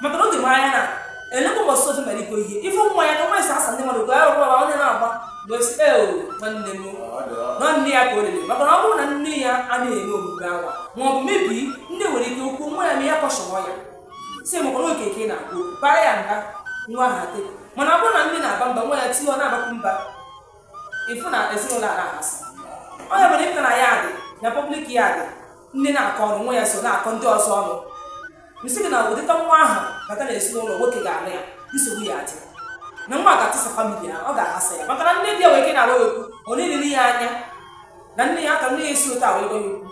maka na oge mara anya na elekwa mbọsị otu mere iko ihe ife nwa ya ka nwa esi asa ndị mmadụ ka ya rụkwa ma onye na-agba wee sị ee nwanne m na nne ya ka o lele maka na ọ bụrụ na nne ya anaghị eme omume ahụ ma ọ bụ maybe nne nwere ike okwu nwa ya ma ya kọshọrọ ya sị maka na oge ka ị na-akpụ bara ya mba nwa ha te mana ọ bụrụ na nne na-aba mba nwa ya tinye ọ na-abakwu mba ịfụ na ezinụlọ a na-aghasa ọ ya mere ịpụta na ya dị na pọblik ya bụ nne na-akọ ọnụ nwa ya so na-akọ ndị ọzọ ọnụ m sị gị na ụdịka nwa ahụ bata na ezinụlọ nwoke ga-anụ ya nsogbu ya adị na nwa ga-atụsa famili ya ọ ga-aghasa ya maka na nne di ya nwere ike na-agwa ya okwu ọ na-elele ya anya na nne ya aka nne ya esi otu a wee gwa ya okwu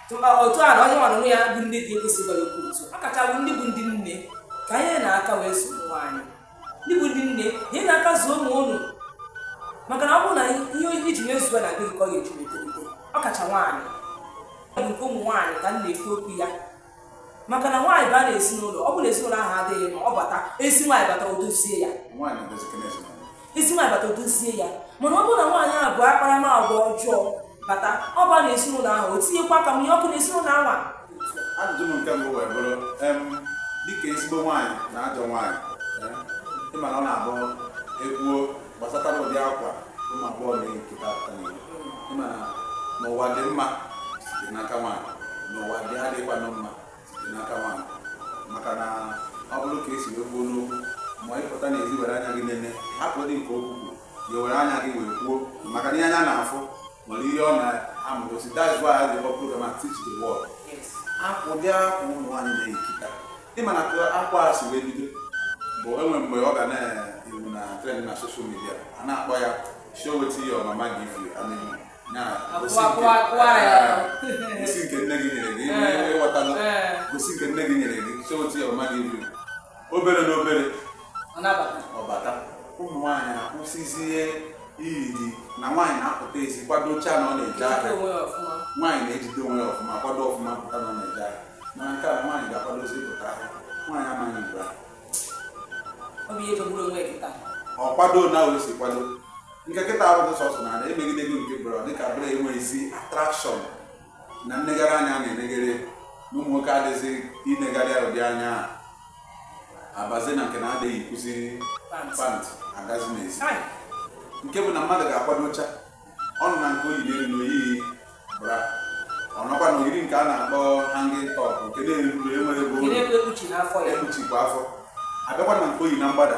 Tụma otu a na onye nwanụ ya bụ nne di ekwesị gwa ya okwu otu a kacha bụ ndị bụ ndị nne ka anyị na-aka wee zụọ ụmụ anyị ndị bụ ndị nne ihe na-aka zụọ ụmụ ụnụ maka na ọ bụrụ na ihe i ji wee zụọ nwa gị ka ọ ga-eji wee tolite ọkacha nwaanyị ọ bụ nke ụmụ nwaanyị ka m na-ekwu okwu ya maka na nwaanyị baa na ezinụlọ ọ bụrụ na ezinụlọ ahụ adịghị mma ọ bata ezi nwaanyị bata odozie ya ezi nwaanyị bata odozie ya mana ọ bụrụ na nwaanyị ahụ bu akparamagwa ọjọọ bata ọ baa na ezinụlọ ahụ o tinyekwa aka mụnye ọkụ na ezinụlọ ahụ ajụjụ m nke mbụ wee bụrụ dịka ezigbo nwaanyị na ajọ nwaanyị ịma na ọ na-abụ ekwuo gbasatara ụdị akwa ụmụ agbọghọ na-eyi kịta pụta n'ihu ịma na n'ụwa dị mma site n'aka nwaanyị n'ụwa dị adịghịkwanụ mma site n'aka nwaanyị maka na ọ bụrụ ka e si wee kwuo n'okwu ma ị pụta n'ezi were anya gị nene hapụdị nke okwu kwuru ya were anya gị wee kwuo maka na ihe anya na-afụ nwere ihe ọ na-egosi that is why I dey work program and teach the world akwa ụdị akwa ụmụ nwaanyị na-eyi kịta ịma na ka akwa a si wee bido bụ e nwere mgbe ọ ga na-ewu na trend na social media a na-akpọ ya show wetin your mama give you and you na gosi Akwa- nke- akwa- akwa ya. Eh, gosi nke nne gị nyere gị Eh. ịghọtala Eh. gosi nke nne gị nyere gị show wetin your mama give you obere na obere ọ bata ụmụ nwaanyị akwụsịzie iyi na nwaanyị na-apụta ezi kwadocha na ọ na-eje ahịa nwaanyị na-ejide onwe ya ọfụma kwado ọfụma pụta na ọ na-eje ahịa na nke a nwaanyị ga-akwadozi pụta ahịa nwaanyị amaghị mgbe ahụ ọ kwado na o si kwado nke kịta arụghị sọsọ na ala emegide gị nke bụrụ dịka bụrụ enweghịzi atrakshọn na nnegharị anya na-enegharị na ụmụ nwoke adịghịzi inegharị ụdị anya a abazi na nke na adịghị eyikwuzi pant agazi n'ezi nke bụ na mmadụ ga-akwadocha ọ nọ na nke o yi n'elu na o yi bra ọ nọkwa na o yiri nke a na-akpọ hanging top nke na-eru enwere ebe ekpuchikwa afọ abịakwa na nke o yi na mgbada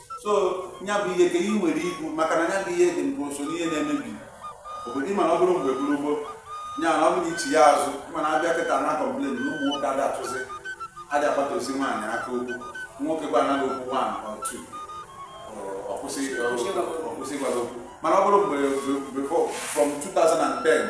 so ya bụ ihe ka ị nwere ikwu maka na ya bụ ihe dị mgbe so n'ihe na-emebi obodo ịma na ọ bụrụ mgbe gburu gboo ya na ọ bụrụ ichi ya azụ mana a bịa kịta na-complain na ụmụ nwoke adị achụzi adị agbata ozi nwaanyị aka okwu nwoke gwa anaghị okwu nwaanyị otu o kwesị o kwesị gwara okwu mana ọ bụrụ mgbe before from 2010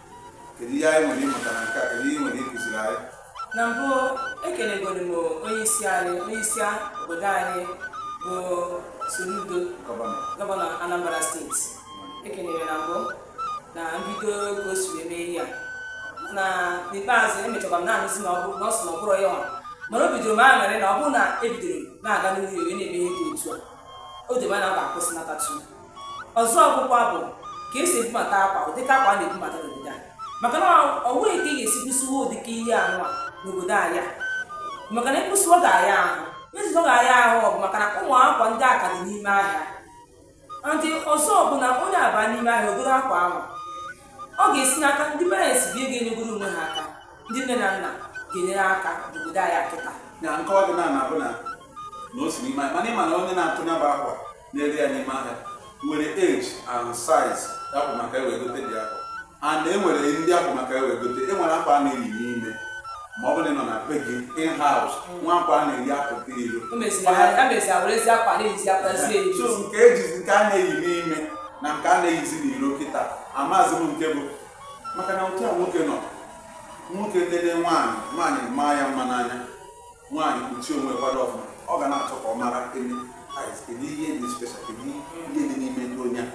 kedu ihe anyị nwere ịmụta na nke a kedu ihe ị nwere ịkụziri anyị na mbụ ekelegoro m onye isi anyị onye isi obodo anyị bụ Soludo gọvanọ Anambra steeti ekelere na mbụ na mbido ka o si wee mee ihe a na n'ikpeazụ emechakwa m na-anụzi na ọ bụ na ọ sị na ọ bụrọ ya nwa mana ebidoro m aṅụrị na ọ bụrụ na ebidoro na-aga n'iru wee na-eme ihe dị otu a o debe na ọ ga-akwụsịnata tu ọzọ kwụkwa bụ ka e si ebubata akwa ụdịka akwa a na-ebubata n'obodo anyị maka na ọ nweghị ka ị ga-esi kwụsịwa ụdịka ihe anụ a n'obodo anyị a. maka na ịkwụsịwa ga-aya ahụ izizi ọ ga-aya ahụ ọ bụ maka na ụmụ akwa ndị a ka dị n'ime ahịa ndị ọzọ bụ na onye a baa n'ime ahịa o goro akwa ahụ ọ ga-esi n'aka ndị parents bi ga-enyegoro onwe ha aka ndị nne na nna ga-enyere aka n'obodo anyị a kịta na nkọwa dị na na-abụ na na o si n'ime ahịa mana ị ma na onye na-atụ ya bụ akwa na-ere ya n'ime ahịa nwere age and size ya bụ maka e wee gote ụdị akwa and e nwere ndị akwa maka e wee gote e nwere akwa a na-eyi n'ime ma ọ bụrụ na ị nọ na be gị in house nwee akwa a na-eyi apụta iro o meziri ha mezi awerezi akwa na-eyizi akwa zie eyi so nke ejizi nke a na-eyi n'ime na nke a na-eyizi n'iro kịta amazi m nke bụ maka na otu a nwoke nọ nwoke nene nwaanyị nwaanyị maa ya mma n'anya nwaanyị kpuchie onwe kwado ọfụma ọ ga na-achọ ka ọ mara elu ais kedu ihe dị special kedu ihe dị n'ime ụdị onye a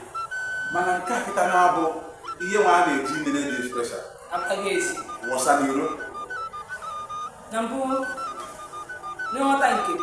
mana nke a kịta na-abụ ihe nwa a na-eji nene dị special apụtago ezi wọsa n'iro na mbụ n'ịghọta nke m